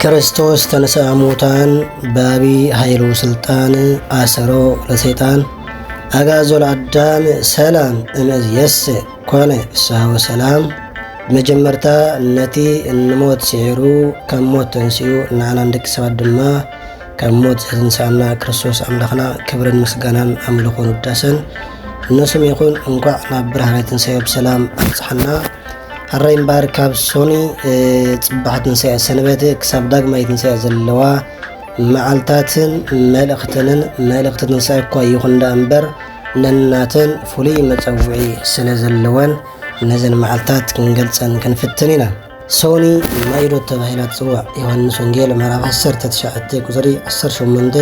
ክርስቶስ ተንሥአ እሙታን በአቢ ኃይሉ ሥልጣን አሰሮ ለሰይጣን አግዓዞ ለአዳም ሰላም እምይእዜሰ ኮነ ፍስሐ ወሰላም። መጀመርታ ነቲ ንሞት ስዒሩ ካብ ሞት ተንስኡ ንዓና ንደቂ ሰባት ድማ ካብ ሞት ዘትንስኣና ክርስቶስ ኣምላኽና ክብርን ምስጋናን ኣምልኾን ውዳሰን እነሱም ይኹን። እንኳዕ ናብ ብርሃነ ትንሣኤ ብሰላም ኣብጽሓና። ሕራይ እምበኣር ካብ ሶኒ ፅባሕ ትንሳኤ ሰንበት ክሳብ ዳግማይ ትንሳኤ ዘለዋ መዓልታትን መልእኽተንን መልእኽቲ ትንሳኤ እኳ ይኹን ዳ እምበር ነናተን ፍሉይ መፀውዒ ስለ ዘለወን ነዘን መዓልታት ክንገልፀን ክንፍትን ኢና ሶኒ ማይዶ ተባሂላ ትፅዋዕ ዮሃንስ ወንጌል ምዕራፍ 19 ቁፅሪ 18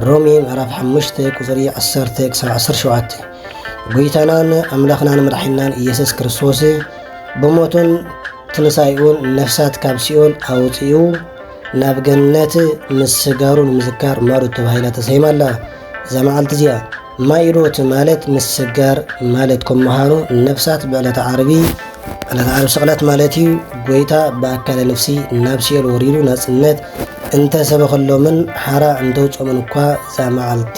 ሮሜ ምዕራፍ 5 ቁፅሪ 10 ክሳብ 17 ጎይታናን ኣምላኽናን መድሓኒናን ኢየሱስ ክርስቶስ ብሞቱን ትንሳኤኡን ነፍሳት ካብ ሲኦል ኣውፂኡ ናብ ገነት ምስጋሩ ንምዝካር ማዶት ተባሂላ ተሰይማ ኣላ። እዛ መዓልቲ እዚኣ ማይዶት ማለት ምስጋር ማለት ከም ምዃኑ ነፍሳት ብዕለተ ዓርቢ ዕለተ ዓርቢ ስቕለት ማለት እዩ ጎይታ ብኣካለ ነፍሲ ናብ ሲኦል ወሪዱ ናጽነት እንተሰበኸሎምን ሓራ እንተውጾምን እኳ እዛ መዓልቲ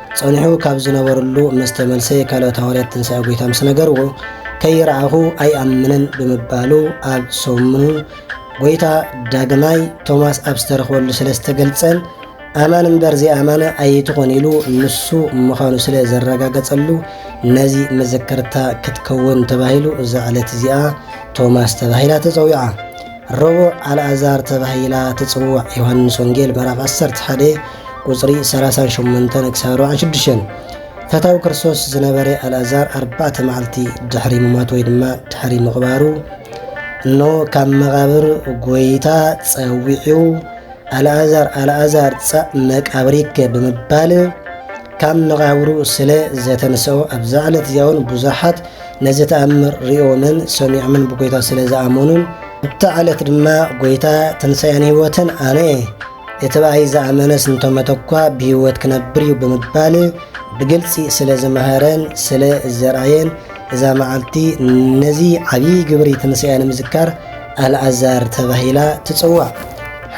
ጸኒሑ ካብ ዝነበረሉ ምስ ተመልሰ ካልኦት ሃዋርያት ትንሳኤ ጐይታ ምስ ነገርዎ ከይረኣኹ ኣይኣምንን ብምባሉ ኣብ ሰሙኑ ጐይታ ዳግማይ ቶማስ ኣብ ዝተረኽበሉ ስለ ዝተገልጸን ኣማን እምበር ዘይኣማነ ኣይትኾን ኢሉ ንሱ ምዃኑ ስለ ዘረጋገጸሉ ነዚ መዘከርታ ክትከውን ተባሂሉ እዛ ዕለት እዚኣ ቶማስ ተባሂላ ተጸዊዓ። ረቡዕ ኣልኣዛር ተባሂላ ትጽዋዕ ዮሃንስ ወንጌል ምዕራፍ ዓሰርተ ሓደ ቁጽሪ ሰላሳን ሸሞንተን ክሳብ ኣርባዓን ሽዱሽተን ፈታዊ ክርስቶስ ዝነበረ ኣልኣዛር ኣርባዕተ መዓልቲ ድሕሪ ምሟት ወይ ድማ ድሕሪ ምቕባሩ እነሆ ካብ መቓብር ጐይታ ጸዊዑ ኣልኣዛር ኣልኣዛር ጸእ መቃብሪከ ብምባል ካብ መቓብሩ ስለ ዘተንሰኦ ኣብዛ ዕለት እዚኣውን ብዙሓት ነዚ ተኣምር ርእዮምን ሰሚዖምን ብጎይታ ስለ ዝኣመኑን ኣብታ ዕለት ድማ ጎይታ ትንሳኤን ህይወትን ኣነ እየ እቲ ብኣይ ዝኣመነስ እንተመተ እኳ ብህይወት ክነብር እዩ ብምባል ብግልፂ ስለ ዝመሃረን ስለ ዘርኣየን እዛ መዓልቲ ነዚ ዓብዪ ግብሪ ትንስያ ንምዝካር ኣልኣዛር ተባሂላ ትፅዋዕ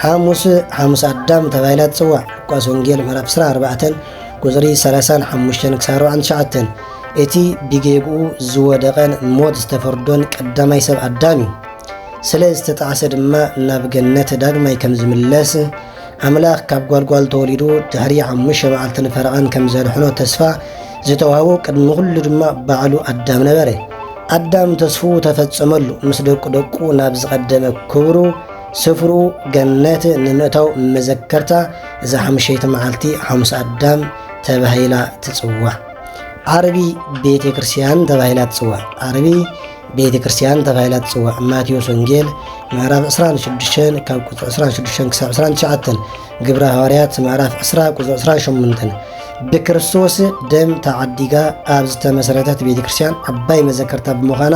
ሓሙስ ሓሙስ ኣዳም ተባሂላ ትጽዋዕ። ሉቃስ ወንጌል ምዕራፍ 24 ቁጽሪ 35-49 እቲ ብጌግኡ ዝወደቐን ሞት ዝተፈርዶን ቀዳማይ ሰብ ኣዳም እዩ። ስለ ዝተጣዕሰ ድማ ናብ ገነት ዳግማይ ከም ዝምለስ ኣምላኽ ካብ ጓልጓል ተወሊዱ ድሕሪ ሓሙሽተ መዓልትን ፈረቓን ከም ዘድሕኖ ተስፋ ዝተዋህቦ ቅድሚ ኩሉ ድማ ባዕሉ ኣዳም ነበረ። ኣዳም ተስፉ ተፈጸመሉ፣ ምስ ደቁ ደቁ ናብ ዝቐደመ ክብሩ ስፍሩ ገነት ንምእታው መዘከርታ እዛ ሓምሸይቲ መዓልቲ ሓሙስ ኣዳም ተባሂላ ትፅዋዕ ዓርቢ ቤተ ክርስቲያን ተባሂላ ትፅዋዕ ዓርቢ ቤተ ክርስቲያን ተባሂላ ትፅዋዕ ማቴዎስ ወንጌል ምዕራፍ 26 ካብ ቁፅሪ 26 ክሳብ 29 ግብረ ሃዋርያት ምዕራፍ 20 ቁፅሪ 28 ብክርስቶስ ደም ተዓዲጋ ኣብ ዝተመሰረተት ቤተ ክርስቲያን ዓባይ መዘከርታ ብምዃና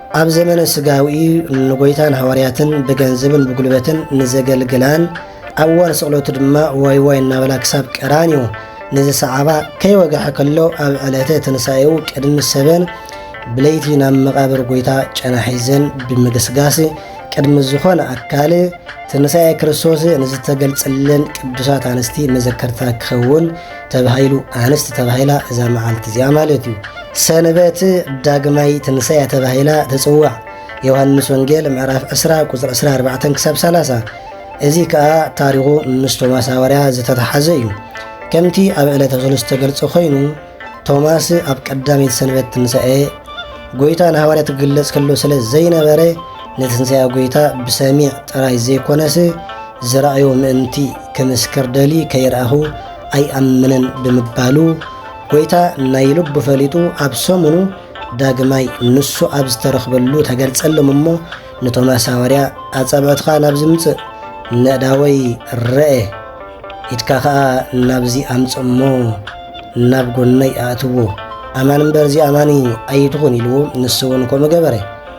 ኣብ ዘመነ ስጋዊ ንጎይታን ሃዋርያትን ብገንዝብን ብጉልበትን ንዘገልግላን ኣብ እዋን ስቕለቱ ድማ ዋይ ዋይ እናበላ ክሳብ ቀራንዮ ንዝሰዓባ ከይወግሐ ከሎ ኣብ ዕለተ ትንሣኤኡ ቅድሚ ሰበን ብለይቲ ናብ መቓብር ጎይታ ጨና ሒዘን ብምግስጋስ ቅድሚ ዝኾነ ኣካል ትንሣኤ ክርስቶስ ንዝተገልጸለን ቅዱሳት ኣንስቲ መዘከርታ ክኸውን ተባሂሉ ኣንስቲ ተባሂላ እዛ መዓልቲ እዚኣ ማለት እዩ ሰንበት ዳግማይ ትንሳኤ ተባሂላ ትፅዋዕ ዮሃንስ ወንጌል ምዕራፍ 20 ቁፅሪ 24 ክሳብ 30 እዚ ከዓ ታሪኹ ምስ ቶማስ ሃዋርያ ዝተተሓዘ እዩ ከምቲ ኣብ ዕለተ ክሉ ዝተገልጸ ኮይኑ ቶማስ ኣብ ቀዳመይቲ ሰንበት ትንሳኤ ጎይታ ንሃዋርያ ትግለጽ ከሎ ስለ ዘይነበረ ንትንሳኤ ጐይታ ብሰሚዕ ጥራይ ዘይኰነስ ዝረኣዮ ምእንቲ ክምስክር ደልዩ ከይረኣኹ ኣይኣምንን ብምባሉ ጐይታ ናይ ልቡ ፈሊጡ ኣብ ሰሙኑ ዳግማይ ንሱ ኣብ ዝተረኽበሉ ተገልጸሎም እሞ ንቶማስ ሃዋርያ ኣጻብዕትኻ ናብ ዝምጽእ ነእዳወይ ረኤ ኢድካ ኸኣ ናብዚ ኣምጽእ እሞ ናብ ጎነይ ኣእትዎ ኣማን እምበር እዚ ኣማኒ ኣይትኹን ኢልዎ ንሱ እውን ከምኡ ገበረ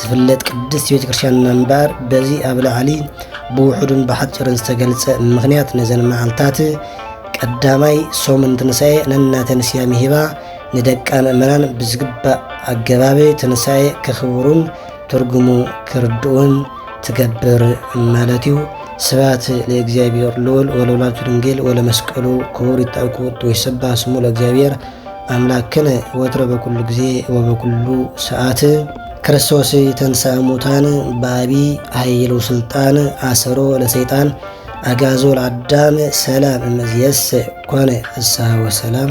ትፍለጥ ቅድስቲ ቤተ ክርስቲያንና እምበር በዚ ኣብ ላዕሊ ብውሑዱን ብሓፂርን ዝተገልጸ ምኽንያት ነዘን መዓልታት ቀዳማይ ሰሙን ትንሳኤ ነናተን ስያሜ ሂባ ንደቃ ምእመናን ብዝግባእ ኣገባብ ትንሳኤ ከኽብሩን ትርጉሙ ክርድኡን ትገብር ማለት እዩ። ስብሐት ለእግዚኣብሔር ልዑል ወለወላዲቱ ድንግል ወለመስቀሉ ክቡር ይትረፈ ክቡር ወይሰብሐ ስሙ ለእግዚኣብሔር ኣምላክነ ወትረ በኩሉ ግዜ ወበኩሉ ሰዓት ክርስቶስ ተንሥአ ሙታን በአቢ ኃይሉ ስልጣን አሰሮ ለሰይጣን አጋዞ ለአዳም ሰላም እምዝየስ ኮነ ፍስሐ ወሰላም